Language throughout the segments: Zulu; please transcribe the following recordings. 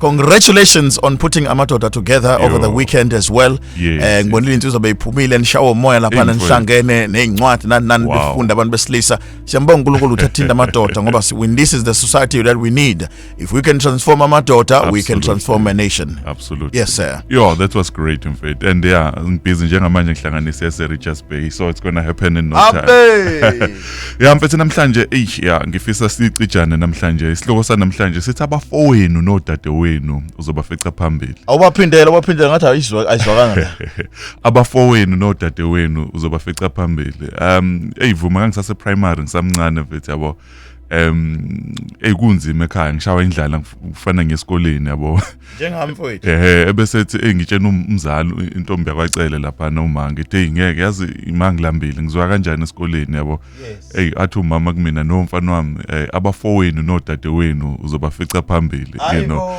congratulations on putting amadoda together Yo. over the weekend as well yes. eh ngibonile insizwa beyiphumile nishawo umoya lapha nihlangene nezincwadi nani nani wow. befunda abantu besilisa siyambonga uNkulunkulu ukuthi athinta amadoda ngoba when this is the society that we need if we can transform amadoda Absolutely. we can transform a nation absolutely yes sir yo that was great in fact and yeah ngibhizi njengamanje ngihlanganise ese Richards Bay so it's going to happen in no Abe. time ya mfethu namhlanje eish ya ngifisa sicijane namhlanje isihloko sanamhlanje sithi abafowenu nodadewenu uzobafica phambili awubaphindela ubaphindela ngathi ayizwa ayizwakanga abafowenu nodadewenu uzobafica phambili um eyivuma kangisase primary ngisamncane mfethu yabo um ekunzima ekhaya ngishawa indlala ngifana ngesikoleni yabo njengami mfowethu ehe ebesethi engitshena um-, umzali intombi yakwacele lapha noma ngithi hey ngeke yazi imangilambile ngizwa kanjani esikoleni yabo hey athi umama kumina no mfana wami eh, abafowenu nodadewenu uzobafica phambili you know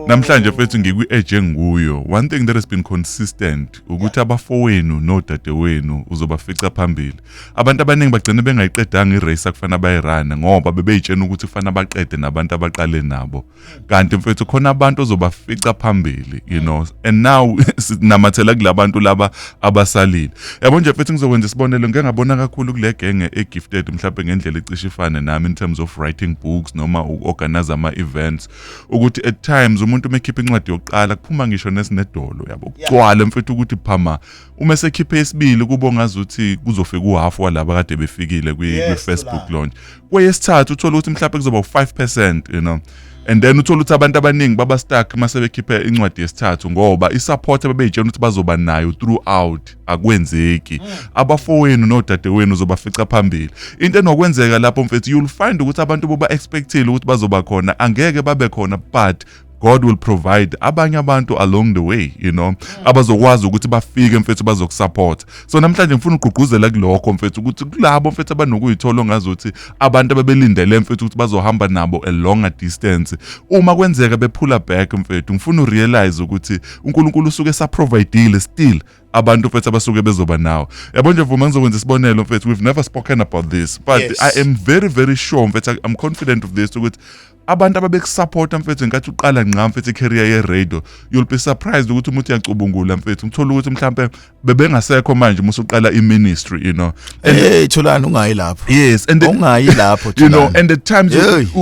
namhlanje mfethu ngikwi age engikuyo one thing that has been consistent ukuthi abafowenu nodadewenu uzobafica phambili abantu abaningi bagcina bengayiqedanga irace akufana bayirana ngoba bebeyitshena ukuthi kufanele baqede nabantu abaqale nabo kanti mfethu khona abantu ozobafica phambili you know and now sinamathela kulabantu laba abasalile yabo nje mfethu ngizokwenza isibonelo ngeke ngabona kakhulu kule genge egifted mhlawumbe ngendlela icishe ifane nami in terms of writing books noma uorganize ama events ukuthi at times umuntu umekhipha incwadi yokuqala kuphuma ngisho nesinedolo yabo kugcwala mfethu ukuthi phama uma esekhiphe isibili kubo ngazuthi kuzofika uhalf walaba kade befikile kwi-facebook launch kweyesithathu uthole ukuthi mhlawumbe kuzoba u-5 percent you know and then uthole ukuthi abantu abaningi baba stuck uma sebekhiphe incwadi yesithathu ngoba i-support ababeyitshela ukuthi bazoba nayo throughout akwenzeki hmm. abafowenu nodadewenu uzobafica phambili into enokwenzeka lapho mfethu you'll find ukuthi abantu boba-expectile ukuthi bazoba khona angeke babe khona but God will provide abanye abantu along the way you know mm. abazokwazi ukuthi bafike mfethu bazokusupport so namhlanje ngifuna ugqugquzela kulokho mfethu ukuthi kulabo mfethu abanokuyithola ongazothi abantu ababelindele mfethu ukuthi bazohamba nabo a longer distance uma kwenzeka bephula back mfethu ngifuna urealize ukuthi uNkulunkulu usuke saprovidile still abantu mfethu abasuke bezoba nawo yabo nje vuma ngizokwenza isibonelo mfethu we've never spoken about this but yes. i am very very sure mfethu i'm confident of this ukuthi abantu ababekusapota mfethu ngenkathi uqala ngqa mfethu icareer ye-radio you'll be surprised ukuthi umuntu uyacubungula mfethu ngithola ukuthi mhlawumpe bebengasekho manje uma usuqala i-ministry you know hey thulani ungayi lapho yes and ungayi lapho you know and at times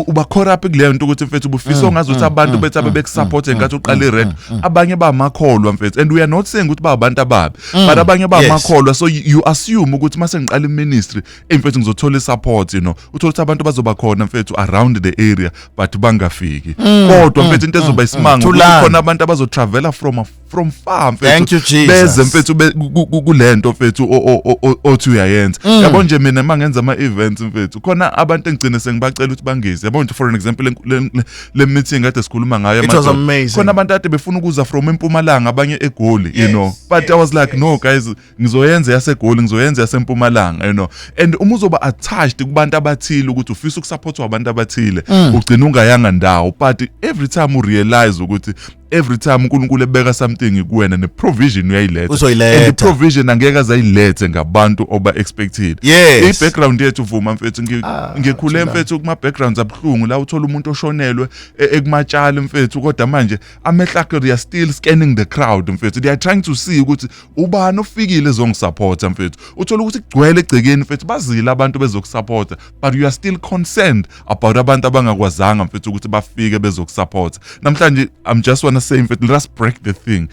uba caught up kuleyo nto ukuthi mfethu ubufisa mm, ongazi ukuthi mm, abantu mm, bethi abebekusupport ngenkathi uqala i-radio abanye bamakholwa mfethu and we are not saying ukuthi ba abantu ababi but abanye bamakholwa so you assume ukuthi uma sengiqala i-ministry eyi mfethu ngizothola isupport you know uthole ukuthi abantu bazoba khona mfethu around the area but bangafiki mm, kodwa mm, mfethu into mm, ezoba isimanga khona abantu abazotravela from from far mfethu beze mfethu kulento mfethu othi uyayenza yabo nje mina mangenza ama events mfethu khona abantu engigcine sengibacela ukuthi bangize yabo nje for an example le meeting kade sikhuluma ngayo khona abantu ade befuna ukuza from empumalanga abanye egoli you know but i was like no guys ngizoyenza yasegoli ngizoyenza yasempumalanga you know and uma uzoba attached kubantu abathile ukuthi ufisa ukusupportwa abantu abathile mm. ugcina ungayanga ndawo but every time u realize ukuthi every time uNkulunkulu ebeka something kuwena ne provision uyayiletha uzoyiletha and provision angeke azayilethe ngabantu oba expected yes. i background yethu vuma mfethu ah, ngikhule mfethu kuma backgrounds abhlungu la uthola umuntu oshonelwe e, ekumatshali mfethu kodwa manje amehlakhe they are still scanning the crowd mfethu they are trying to see ukuthi ubani ofikile ezongisupporta mfethu uthola ukuthi kugcwele egcekeni mfethu bazile abantu bezokusupporta but you are still concerned about abantu abangakwazanga mfethu ukuthi bafike bezokusupporta namhlanje i'm just wanna say mfethu let us break the thing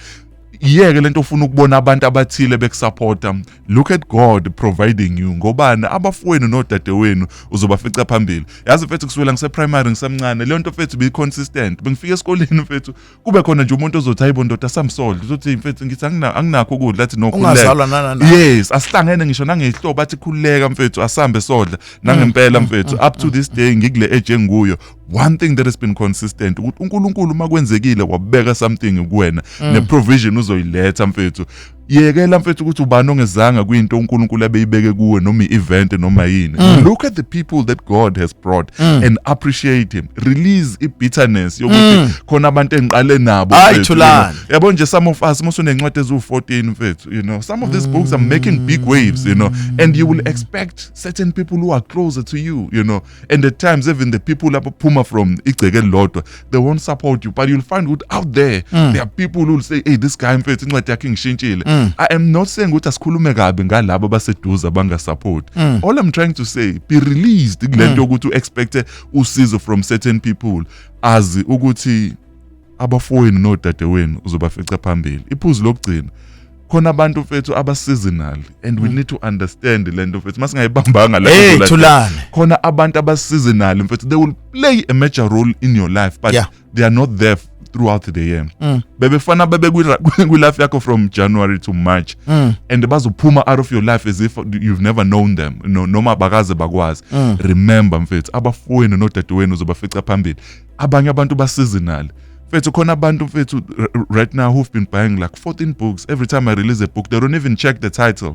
yeke lento ufuna ukubona abantu abathile bekusupporta look at god providing you ngobani abafowenu nodadewenu uzobafica phambili yazi mfethu kusukela ngiseprimary ngisemncane leyo nto mfethu beyiconsistent bengifika esikoleni mfethu kube khona nje umuntu ozothi hayibo ndoda samsole uzothi mfethu ngithi anginakho ukudla athi no ungazalwa nanana yes asihlangene ngisho nangehlobo athi khululeka mfethu asambe sodla nangempela mm, mm, mfethu mm, up to this day ngikule age enguyo one thing that has been consistent ukuthi uNkulunkulu uma kwenzekile wabeka something kuwena ne provision uzoyiletha mfethu yekela mfethu ukuthi ubani ongezanga kwinto uNkulunkulu abeyibeke kuwe noma i-event noma yini mm. look at the people that God has brought mm. and appreciate him release i-bitterness yokuthi mm. khona abantu engiqale nabo yabo nje some of us musunencwadi eziwu-14 mfethu you know some of these mm. books are making big waves you know and you will expect certain people who are closer to you you know and at times even the people abaphuma from igceke elilodwa they won't support you but you'll find ukuthi out there mm. there are people who will say hey this guy mfethu incwadi yakhe ngishintshile mm. i am not saying ukuthi asikhulume kabi ngalabo abaseduze abangasupport mm. all i'm trying to say be released kulento mm. ukuthi u expect usizo from certain people azi ukuthi abafowenu nodadewenu uzobafica phambili iphuzu lokugcina khona abantu mfethu abaseasonal and we mm. need to understand le nto mfethu masingayibambanga la hey, khona abantu abaseasonal mfethu they will play a major role in your life but yeah. they are not there throughout the year mm. bebefana bebe kwi-life yakho from january to march mm. and bazophuma out of your life as if you've never known them no, noma bakaze bakwazi mm. remember mfethu abafowenu nodadewenu uzobafica phambili abanye abantu baseasonal mfethu khona abantu mfethu right now who've been buying like 14 books every time i release a book they don't even check the title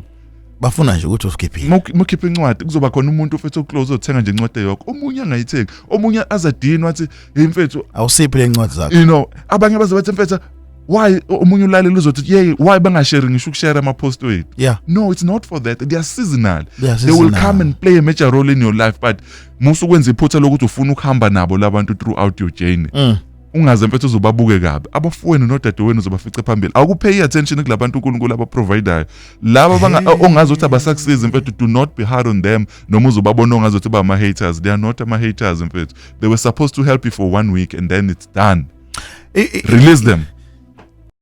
bafuna nje ukuthi usikhiphile mukhiphe incwadi kuzoba khona umuntu ofethu oclose othenga nje incwadi yokho omunye angayithengi omunye azadini wathi hey mfethu awusiphi le ncwadi zakho you know abanye baze bathi mfethu why omunye ulaleli uzothi yey why bangashare ngisho ukushare ama-post wethu yeah. no it's not for that they are seasonal yeah, they will come and play a major role in your life but musa ukwenza iphutha lokuthi ufuna ukuhamba nabo labantu throughout your journey mm. ungaze mfethu uzobabuke kabi abafowenu nodadewenu uzobafice phambili awukuphe i-attention kulabantu unkulunkulu abaprovidayo laba ongazi ukuthi abasakusizi mfethu do not be hard on them noma uzobabona ongazi ukuthi bama-haters they are not ama-haters mfethu they were supposed to help you for one week and then it's done release them